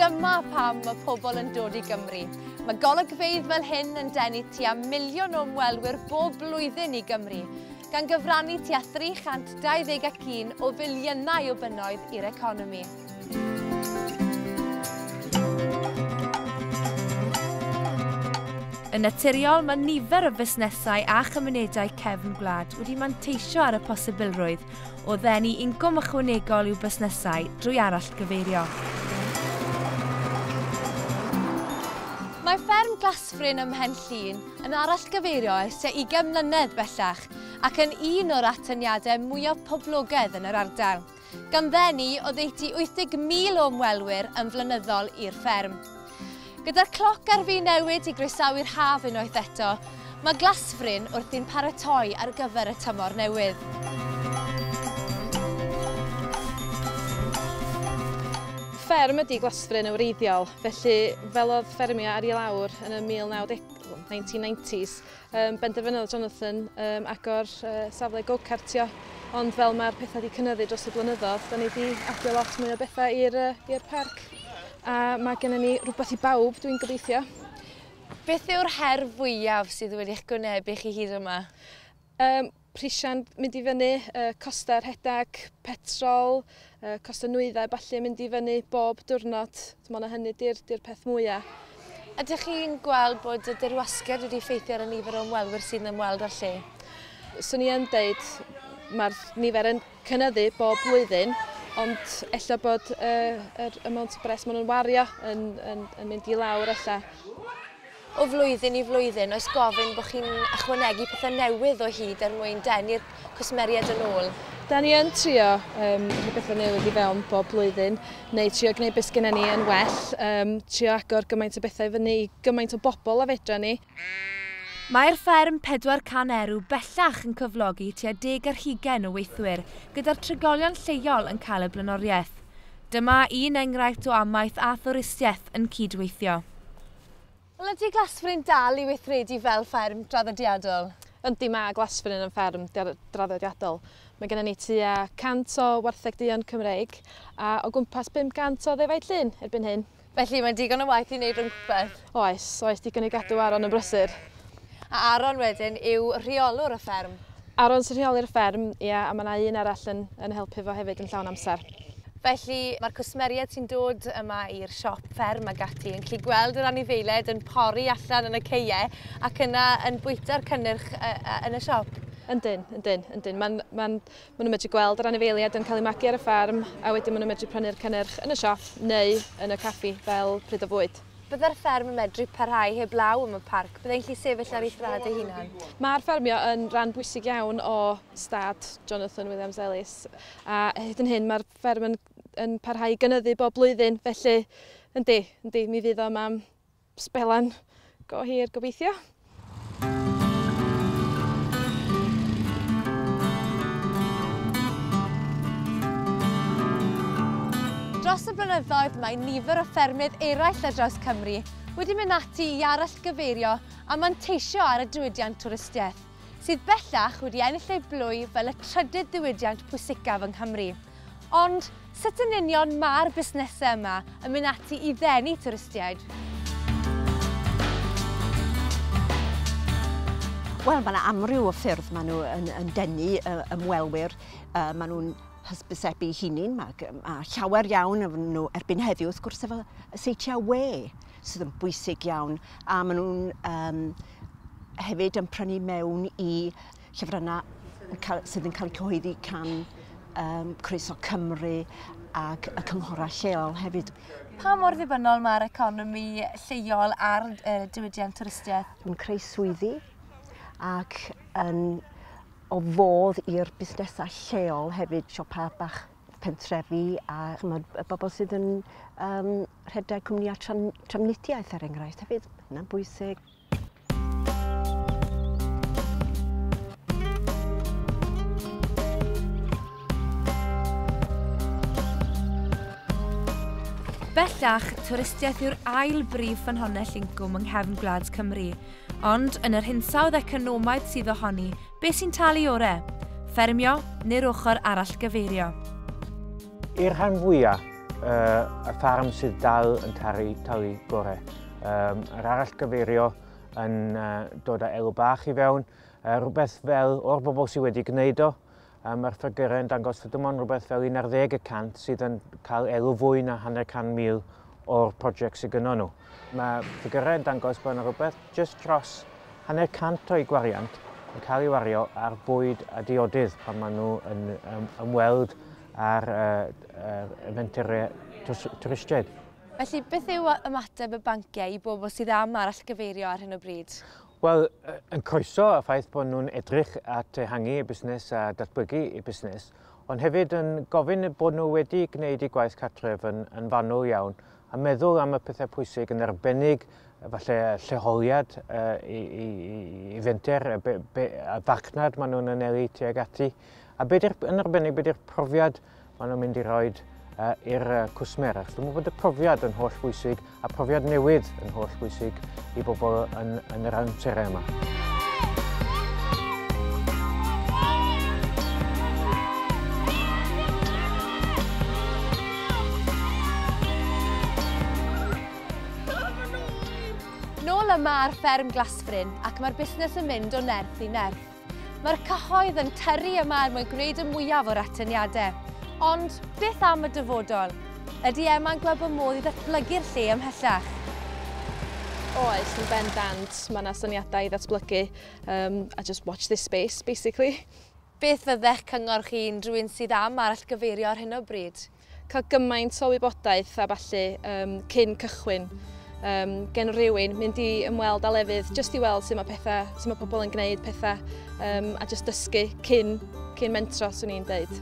Dyma pam mae pobl yn dod i Gymru. Mae golygfeydd fel hyn yn denu tua miliwn o ymwelwyr bob blwyddyn i Gymru, gan gyfrannu tua 321 o filiynau o bunnoedd i'r economi. Yn naturiol, mae nifer o fusnesau a chymunedau cefn gwlad wedi manteisio ar y posibilrwydd o ddenu incwm ychwanegol i'w busnesau drwy arallgyfeirio. Mae fferm Glasfryn ym Mhen Llŷn yn arallgyfeirio ers tua 20 mlynedd bellach ac yn un o'r atyniadau mwyaf poblogaidd yn yr ardal. gan ddenu oddeutu 80,000 o ymwelwyr yn flynyddol i'r fferm. Gyda'r cloc ar fin newid i groesawu'r haf unwaith eto, mae Glasfryn wrthi'n paratoi ar gyfer y tymor newydd. Fferm ydy Glasfryn yn wreiddiol, felly fel oedd ffermio ar ei lawr yn y 1990s, Um, benderfynodd Jonathan um, agor uh, safle go-cartio, ond fel mae'r pethau wedi cynnyddu dros y blynyddoedd, da ni wedi adio lot mwy o bethau i'r uh, parc. A mae gennym ni rhywbeth i bawb, dwi'n gobeithio. Beth yw'r her fwyaf sydd wedi eich gwynebu chi hyd yma? Um, prisiau'n mynd i fyny, costau rhedeg, petrol, costau nwyddau ballu yn mynd i fyny bob diwrnod. Mae yna hynny di'r, dir peth mwyaf. Ydych chi'n gweld bod y dirwasgiad wedi ffeithio ar y nifer o ymwelwyr sy'n ymweld â'r lle? Swn i yn dweud mae'r nifer yn cynnyddu bob blwyddyn, ond efallai bod yr amount o bres maen nhw'n wario yn, yn, yn mynd i lawr efallai. O flwyddyn i flwyddyn, oes gofyn bod chi'n ychwanegu pethau newydd o hyd er mwyn denu'r cwsmeriaid yn ôl? Da ni yn trio um, rhoi bethau newydd i fewn bob blwyddyn, neu trio gwneud beth gyda ni yn well, um, trio agor gymaint o bethau fyny i gymaint o bobl a fedra ni. Mae'r fferm 400 erw bellach yn cyflogi tua deg ar hugain o weithwyr, gyda'r trigolion lleol yn cael y blaenoriaeth. Dyma un enghraifft o amaeth a thwristiaeth yn cydweithio. Wel ydy Glasfryn dal i weithredu fel fferm draddodiadol? Yndi, mae Glasfryn yn fferm draddodiadol. Mae gennym ni tua 100 o wartheg duon Cymreig a o gwmpas 500 o ddefaid llun erbyn hyn. Felly mae'n digon o waith i wneud rhywbeth? Oes, oes, digon i gadw Aron yn brysur. A Aaron wedyn yw rheolwr y fferm? Aaron sy'n rheoli'r fferm, ie, a mae 'na un arall yn yn helpu fo hefyd yn llawn amser. Felly, mae'r cwsmeriaid sy'n dod yma i'r siop fferm ag ati yn gallu gweld yr anifeiliaid yn pori allan yn y ceie ac yna yn bwyta'r cynnyrch yn y siop? Yndyn, yndyn, yndyn. Mae'n, mae'n, maen nhw'n medru gweld yr anifeiliaid yn cael eu magu ar y fferm a wedyn maen nhw'n medru prynu'r cynnyrch yn y siop neu yn y caffi fel pryd o fwyd. Byddai'r fferm yn medru parhau heb law am y parc, byddai'n llu sefyll ar ei thraed ei hunan. Mae'r ffermio yn ran bwysig iawn o stad Jonathan Williams Ellis, a hyd yn hyn mae'r fferm yn, yn parhau i gynyddu bob blwyddyn, felly yndi, yndi, mi fydd o am sbelan go hir gobeithio. Dros y blynyddoedd, mae nifer o ffermydd eraill ar draws Cymru wedi mynd ati i arallgyfeirio a manteisio ar y diwydiant twristiaeth, sydd bellach wedi ennill ei blwy fel y trydydd ddiwydiant pwysicaf yng Nghymru. Ond, sut yn union mae'r busnesau yma yn mynd ati i ddenu twristiaid? Wel, mae 'na amryw o ffyrdd maen nhw yn, yn denu ymwelwyr. Uh, maen nhw'n hysbysebu hunin, mae, mae llawer iawn o nhw erbyn heddiw, wrth gwrs, efo y seitiau we sydd yn bwysig iawn, a maen nhw'n um, hefyd yn prynu mewn i llyfrynnau sydd yn cael eu cyhoeddi can um, Croeso Cymru ac y cynghorau lleol hefyd. Pa mor ddibynnol mae'r economi lleol ar uh, diwydiant twristiaeth? Yn creu swyddi ac yn o fodd i'r busnesau lleol hefyd, siopa bach pentrefi a chymod, y bobl sydd yn um, rhedeg cwmnïau tram, tramnidiaeth er enghraifft hefyd, hynna'n bwysig. Bellach, twristiaeth yw'r ail brif ffynhonnell incwm yng nghefn gwlad Cymru. Ond, yn yr hinsawdd economaidd sydd ohoni, be sy'n talu ore? Ffermio neu'r ochr arall gyfeirio? I'r rhan fwyaf, uh, y ffarm sydd dal yn talu, talu gorau. um, yr arall gyfeirio yn uh, dod â elw bach i fewn, uh, rhywbeth fel o'r bobl sydd wedi gwneud o, um, mae'r ffigurau yn dangos fod dim ond rhywbeth fel 11 y cant sydd yn cael elw fwy na hanner can mil o'r prosiect sydd gyda nhw. Mae ffigurau yn dangos bod yna rhywbeth jyst dros hanner cant o'i gwariant yn cael ei wario ar bwyd a diodydd pan maen nhw yn ymweld ar uh, uh, eventurau twristiaid. Felly, beth yw ymateb y banciau i bobl sydd am arallgyfeirio ar hyn o bryd? Wel, yn croeso y ffaith bod nhw'n edrych at ehangu eu busnes a datblygu eu busnes, ond hefyd yn gofyn bod nhw wedi gwneud eu gwaith cartref yn, yn fanwl iawn a meddwl am y pethau pwysig yn arbennig falle lleoliad uh, i, i, i fenter, y, be, be, y farchnad maen nhw'n anelu tuag ati, a beth yn arbennig beth yw'r profiad maen nhw'n mynd i roi uh, i'r uh, cwsmer. Achos dwi'n meddwl bod y profiad yn holl bwysig a profiad newydd yn holl bwysig i bobl yn, yn yr amserau yma. Nôl yma ar fferm Glasfryn ac mae'r busnes yn mynd o nerth i nerth. Mae'r cyhoedd yn tyrru yma er mwyn gwneud y mwyaf o'r atyniadau. Ond beth am y dyfodol? Ydy Emma'n gweld bod modd i ddatblygu'r lle ymhellach? Oes, yn bendant. Mae yna syniadau i ddatblygu um, a just watch this space, basically. Beth fyddech cyngor chi'n rhywun sydd am arallgyfeirio ar hyn o bryd? cael gymaint o wybodaeth a ballu um, cyn cychwyn um, gen rhywun, mynd i ymweld â lefydd, jyst i weld sut mae pethau, sut mae pobl yn gwneud pethau um, a jyst dysgu cyn, cyn mentro, swn i'n deud.